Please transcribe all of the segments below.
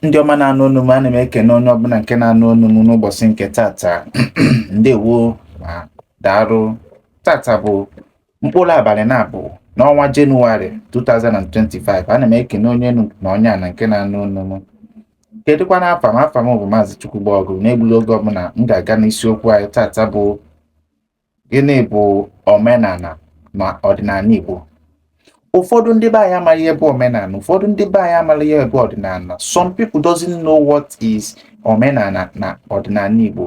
ndị ọma na-anụ onu m ana m ekene onye ọbụla nke na-anụ onu m n'ụbọsị nke tata ndewo ma daarụ tata bụ mkpụrụ abalị naabọ n'ọnwa jenụwarị 2025 ana m ekene onye enu na onye ana nke na-anụ onu m kedụkwanụ afa m afa m bụ maazị chukwugbo ọgụ n'egburo oge ọbụla m ga-aga n'isiokwu anyị tata bụ gịnị bụ omenala ma ọdịnala igbo ụfọdụ ndị be anyị amaghị ife bụ omenala ụfọdụ ndị be anyị amaghị ife bụ ọdịnala some people doesn't know what is omenala na ọdịnala igbo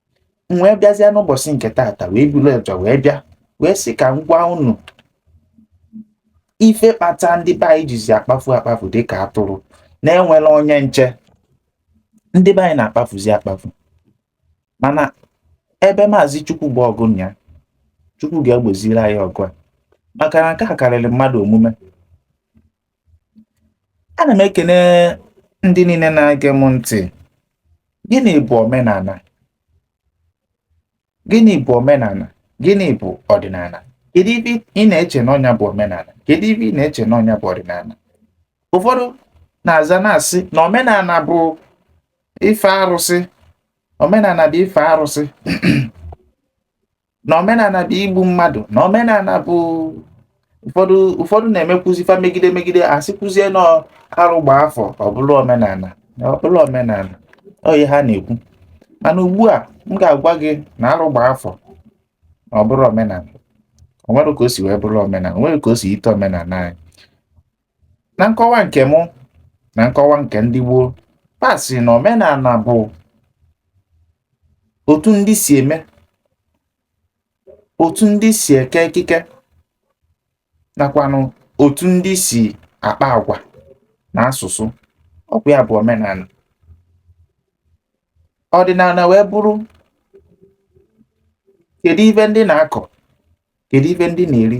m wee bịazie n'ụbọsị nke taata wee buru ọja wee bịa wee sị ka m gwa unu ife kpata ndị be anyị jizi akpafu akpafu dịka atụrụ na-enwero onye nche ndị be anyị na-akpafuzi akpafu mana ebe maazị chukwugbo ọgụ ya chukwu ga-egboziri anyị ọgụ a maka na nke a karịrị mmadụ omume ana m ekene ndị niile na-ege m ntị gịnị bụ omenala gịnị bụ omenala gịnị bụ ọdịnala kedu ife ị na-eche na ọ nya bụ omenala kedu ife ị na-eche na ọ nya bụ ọdịnala ụfọdụ na-aza na-asị na omenala bụ ife arụsị omenala bụ ife arụsị na omenala bụ igbu mmadụ na omenala bụ ụfọdụ ụfọdụ na-emekwuzi fa megide megide asịkwuzie na arụ gba afọ ọ bụrụ omenala ọ bụrụ omenala ọ nya ha na-ekwu mana ugbu a m ga-agwa gị na arụ gba afọ na ọ bụrọ omenala o nwero ka o si wee bụrụ omenala o nwero ka o si yite omenala anyị na nkọwa nke mụ na nkọwa nke ndị gboo fa sị na omenala bụ otu ndị si eme otu ndị si eke ekike nakwanụ otu ndị si akpa agwa na asụsụ ọ bụ ya bụ omenala ọdịnala wee bụrụ kedu ife ndị na-akọ kedu ife ndị na-eri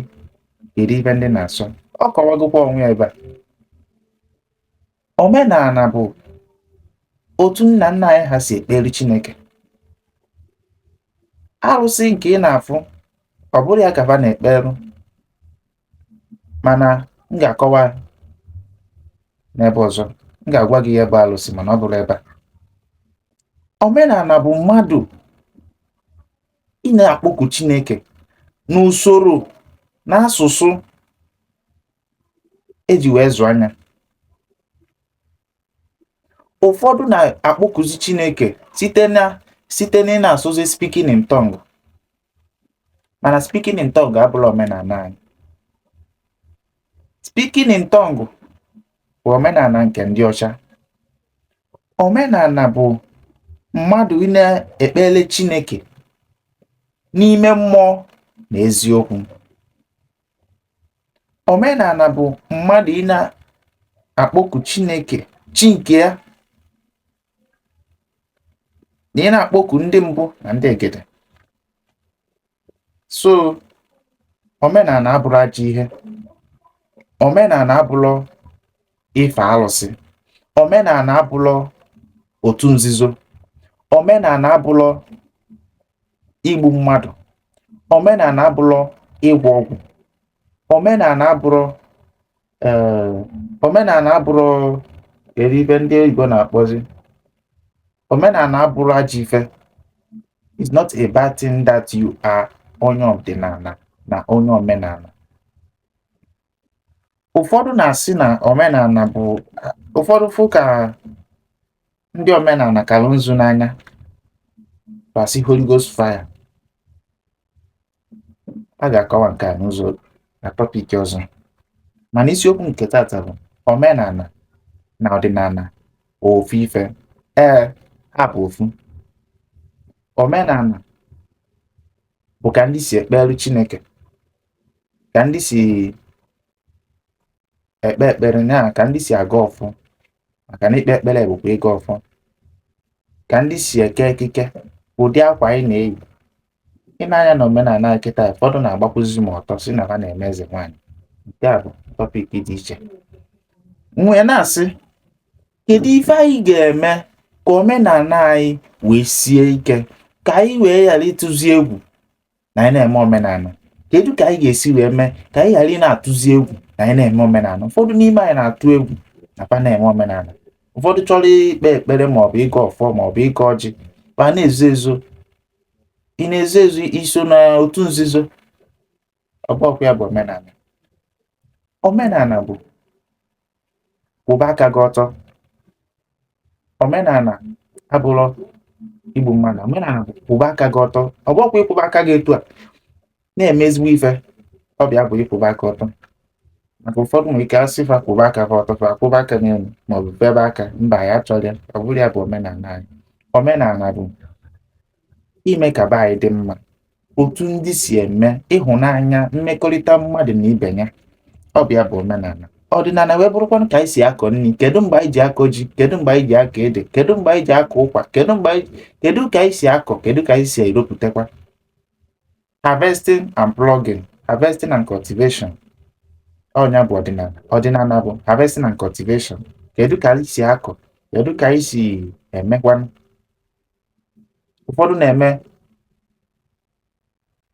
kedu ife ndị na-asọ ọ kọwagokwa onwe ya ebe a omenala bụ otu nna nna anyị ha si ekpere Chineke arụsị nke ị na-afụ ọ bụrọ ya ka fa na-ekperu mana m ga-akọwa n'ebe ọzọ m ga-agwa gị ife bụ arụsị mana ọ bụrọ ebe a omenala bụ mmadụ ị na-akpọku Chineke n'usoro n'asụsụ eji wee zụ anyị ụfọdụ na-akpọkuzi Chineke site na site na ị na-asụzi speaking in tongue mana speaking in tongue abụrọ omenana anyị speaking in tongue bụ omenana nke ndị ọcha omenana bụ mmadụ ị na-ekpere Chineke n'ime mmụọ na eziokwu omenana bụ mmadụ ị na-akpọku Chineke chi nke ya na ị na-akpọku ndị mbụ na ndị egede so omenana abụrọ ajọ ihe omenana abụrọ ife alụsị omenana abụrọ otu nzuzo omenana abụrọ igbu mmadụ omenana abụrọ ịgwọ ọgwụ omenana abụrọ ee omenana abụrọ eri ife ndị oyibo na-akpọzi omenana abụrọ ajọ ife it's not a bad thing that you are onye ọdịnana na onye omenana ụfọdụ na-asị na omenana bụ ụfọdụ fụ ka ndị omenana kara nzu n'anya ba sị Holy Ghost fire a ga-akọwa nke a n'ụzọ na topic ọzọ mana isiokwu nke tata bụ omenana na ọdịnana ofu ife ee ha bụ ofu omenana bụ ka ndị si ekpere Chineke ka ndị si ekpe ekpere na ka ndị si agọ ọfọ maka na ikpe ekpere bụkwa ịgọ ọfọ ka ndị si eke ekike ụdị akwa anyị na-eyi i nee anya na omenana anyị kịta ụfọdụ na-agbakwụzi ma ọtọ sị na ba na-eme eze nwaanyị nke a bụ topic dị iche m wee na-asị kedu ife anyị ga-eme ka omenana anyị wee sie ike ka anyị wee ghara ịtụzi egwu na anyị na-eme omenana kedu ka anyị ga-esi wee mee ka anyị ghara ị na-atụzi egwu na anyị na-eme omenana ụfọdụ n'ime anyị na-atụ egwu na ba na-eme omenana ụfọdụ chọrọ ikpe ekpere maọbụ ịgọ ọfọ maọbụ ịgọ ọjị ba na-ezo ezo ị na-ezo ezo i so na otu nzuzo ọ bụrọkwa ya bụ omenana omenana bụ kwụba aka gị ọtọ omenana abụrọ igbu mmadụ omenana bụ kwụba aka gị ọtọ ọ bụkwa ịkwụba aka gị etu a na-eme ezigbo ife ọ bụ ya bụ ịkwụba aka ọtọ maka ụfọdụ nwere ike asị fa kwụba aka fa ọtọ fa kwụba aka n'elu maọbụ febe aka mba ya achọrọ ya ọ bụrọ ya bụ omenana anyị omenana bụ ime ka be anyị dị mma otu ndị si eme ịhụnanya mmekọrịta mmadụ na ibe ya ọ bụ ya bụ omenala ọdịnala wee bụrụkwanụ ka anyị si akọ nri kedu mgbe anyị ji akọ ji kedu mgbe anyị ji akọ ede kedu mgbe anyị ji akọ ụkwa kedu mgbe anyị kedu ka anyị si akọ kedu ka anyị si eropụtakwa harvesting and plugging harvesting and cultivation ọ nya bụ ọdịnala ọdịnala bụ harvesting and cultivation kedu ka anyị si akọ kedu ka anyị si emekwanụ ụfọdụ na-eme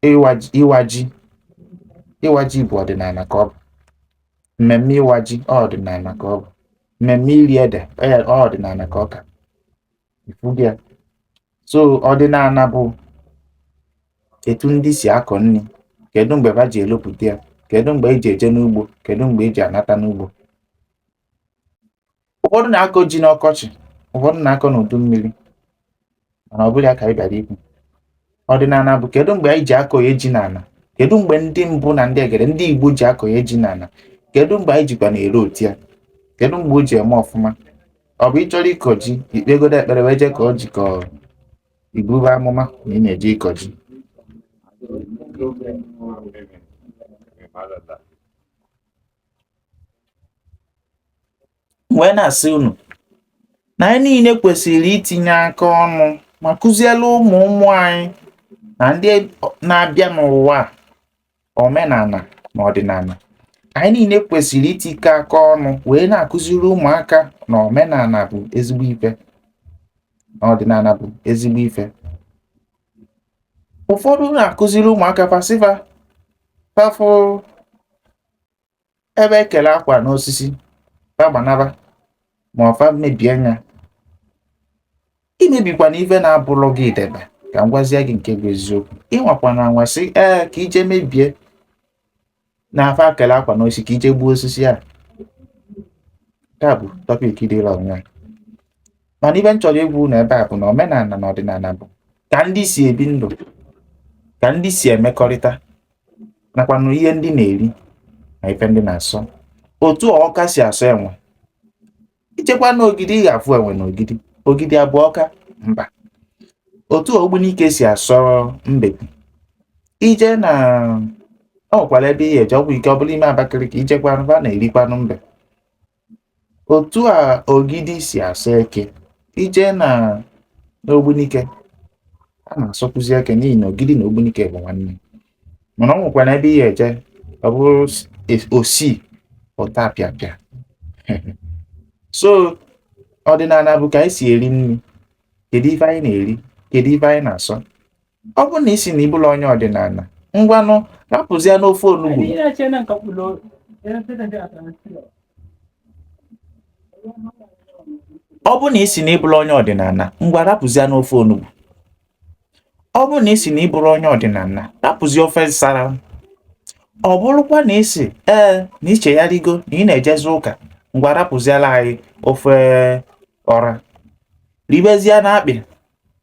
ịwa ji ịwa ji ịwa ji bụ ọdịnala ka ọ bụ mmemme ịwa ji ọ ọdịnala ka ọ bụ mmemme iri ede ọ ya- ọ ọdịnala ka ọ ka ị fụgo ya so ọdịnala bụ etu ndị si akọ nri kedu mgbe ba ji elopụta ya kedu mgbe e ji eje n'ugbo kedu mgbe e ji anata n'ugbo ụfọdụ na-akọ ji n'ọkọchị ụfọdụ na-akọ n'udu mmiri mana ọ bụrọ ya ka anyị bịara ikwu ọdịnala bụ kedu mgbe anyị ji akọnye ji n'ala kedu mgbe ndị mbụ na ndị egede ndị igbo ji akọnye ji n'ala kedu mgbe anyị jikwa na-erote ya kedu mgbe o ji eme ọfụma ọ bụ ị chọrọ ịkọ ji i kpegodo ekpere wee jee kọọ ji ka ọ i bube amụma na ị na-eje ịkọ ji wee na-asị unu na anyị niile kwesịrị itinye aka ọnụ ma kụziere ụmụ ụmụ anyị na ndị na-abịa n'ụwa omenala na ọdịnala anyị niile kwesịrị itikọ aka ọnụ wee na-akụziri ụmụaka na omenala bụ ezigbo ife na ọdịnala bụ ezigbo ife ụfọdụ na-akụziri ụmụaka fa sị fa fa fụ ebe e kele akwa n'osisi fa gbanaba ma ọ fa mebie ya emebikwana ife na-abụrọ gị debe ka m gwazie gị nke bụ eziokwu ị nwakwana anwa sị ee ka i je mebie na fa kele akwa n'osisi ka i je gbuo osisi a taa bụ topic dịla onwe mana ife m chọrọ ikwu na ebe a bụ na omenala na ọdịnala bụ ka ndị si ebi ndụ ka ndị si emekọrịta nakwanụ ihe ndị na-eri na ife ndị na-asọ otu a ọka si asọ enwe i jekwanụ ogidi ị ga-afụ enwe na ogidi ogidi abụrọ ọka mba otu a ogbunike si asọ mbe i je na ọ nwekwara ebe ị ya-eje ọgwụ ike ọ bụla ime Abakaliki i jekwanụ ba na-erikwanụ mbe otu a ogidi si asọ eke i jee na n'ogbunike a na-asọkwuzi eke n'ihi na ogidi na ogbunike bụ nwanne mana ọ nwekwara ebe i ye-eje ọ bụrụ osi ụta pịapịa so ọdịnala bụ ka anyị si eri nri kedu ife anyị na-eri kedu ife anyị na-asọ ọ bụrụ na ị sị na ị bụrọ onye ọdịnala ngwanụ rapụzianụ ofe onugbu ọ bụrụ na ị sị na ị bụrọ onye ọdịnala ngwa rapụzianụ ofe onugbu ọ bụrụ na ị sị na ị bụrọ onye ọdịnala rapụzi ofe nsara ọ bụrụkwa na ị sị ee na i chegharịgo na ị na-ejezi ụka ngwa rapụziara anyị ofe ọra ribezianụ akpị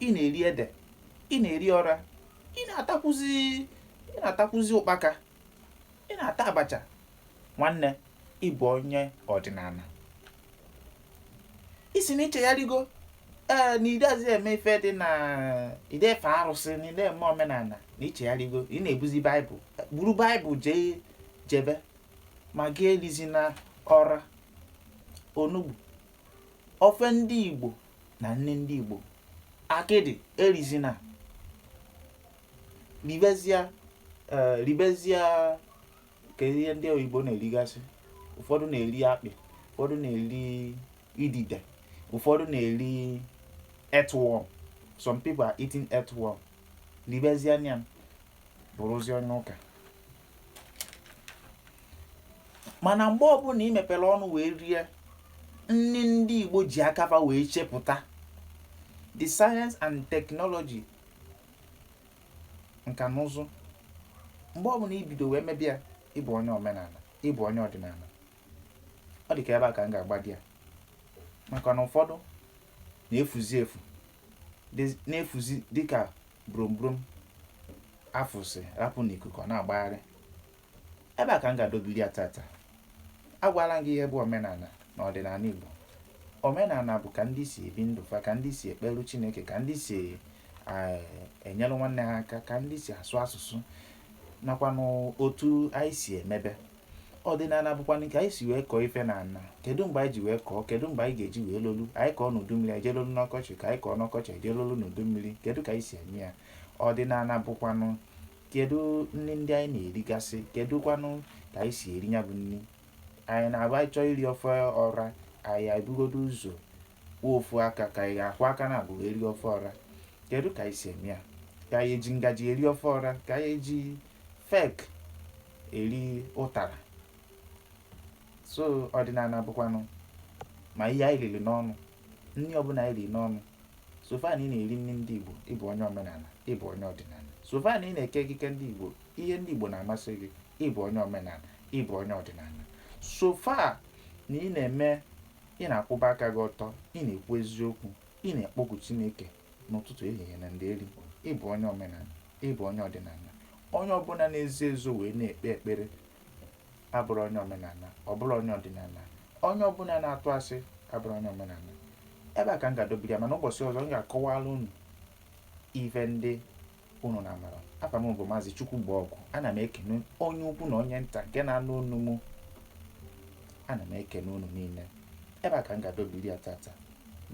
ị na-eri ede ị na-eri ọra ị na-atakwuzi ị na-atakwuzi ụkpaka ị na-ata abacha nwanne ị bụ onye ọdịnala ị sị na i chegharịgo ee na i dezi eme ife dị na i de-efe arụsị na i de-eme omenala na i chegharịgo ị na-ebuzi baịbụl buru baịbụl jee jebe ma gị erizina ọra onugbu ofe ndị igbo na nni ndị Igbo akịdị erizina ribezia eh, ribezia nke ndị oyibo na-erigasị ụfọdụ na-eri akpị ụfọdụ na-eri idide ụfọdụ na-eri earthworm some people are eating earthworm ribezia nya bụrụzi onye ụka mana mgbe ọbụla ị mepere ọnụ wee rie nri ndị Igbo ji aka fa wee chepụta the science and technology nka na ụzụ mgbe ọbụla i bido wee mebe ya ị bụ onye omenala ị bụ onye ọdịnala ọ dị ka ebe a ka m ga-agbadị ya maka na ụfọdụ na-efuzi efu na-efuzi dịka brombrom a fụsị rapụ n'ikuku ọ na-agbagharị ebe a ka m ga-adọbili ya tata agwala m gị ihe bụ omenala na ọdịnala Igbo omenala bụ ka ndị si ebi ndụ fa ka ndị si ekpelu Chineke ka ndị si eh, enyere nwanne ha aka ka ndị si asụ asụsụ nakwanụ otu anyị si emebe ọdịnala bụkwanụ nke anyị si wee kọọ ife n'ana kedu mgbe anyị ji wee kọọ kedu mgbe anyị ga-eji wee lolu anyị kọọ n'udu mmiri anyị je-elolu n'ọkọchị ka anyị kọọ n'ọkọchị anyị je-elolu n'udu mmiri kedu ka anyị si eme ya ọdịnala bụkwanụ kedu nri ndị anyị na-erigasị kedu kwanụ ka anyị si eri ya bụ nri anyị na-abụ anyị chọọ iri ofe ọra anyị ebugodu ụzọ kwọọ ofu aka ka anyị ga-akwọ aka naabụ ji eri ofe ọra kedu ka anyị si eme ya ka anyị eji ngaji eri ofe ọra ka anyị eji fek eri ụtara so ọdịnala bụkwanụ ma ihe anyị riri n'ọnụ nri ọbụla anyị riri n'ọnụ so far na ị na-eri nri ndị igbo ị bụ onye omenala ị bụ onye ọdịnala so far na ị na-eke ekike ndị igbo ihe ndị igbo na-amasị gị ị bụ onye omenala ị bụ onye ọdịnala so far na ị na-eme ị na-akwụba aka gị ọtọ ị na-ekwu eziokwu ị na-ekpọku chineke n'ụtụtụ ehihie na ndeeri ị bụ onye omenala ị bụ onye ọdịnala onye ọbụla na-ezo ezo wee na-ekpe ekpere abụrọ onye omenala ọ bụrọ onye ọdịnala onye ọbụla na-atụ asị abụrọ onye omenala ebe a ka m ga-adọbiri ya mana ụbọchị ọzọ m ga-akọwara unu ife ndị unu na-amarọ afa m bụ maazị chukwugbo ọgụ ana m ekene onye ukwu na onye nta nke na-anụ onu m ana m ekene unu niile ebe a ka m ga-adọbiri ya tata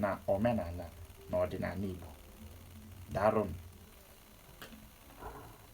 na omenala na ọdịnala igbo daarụ nụ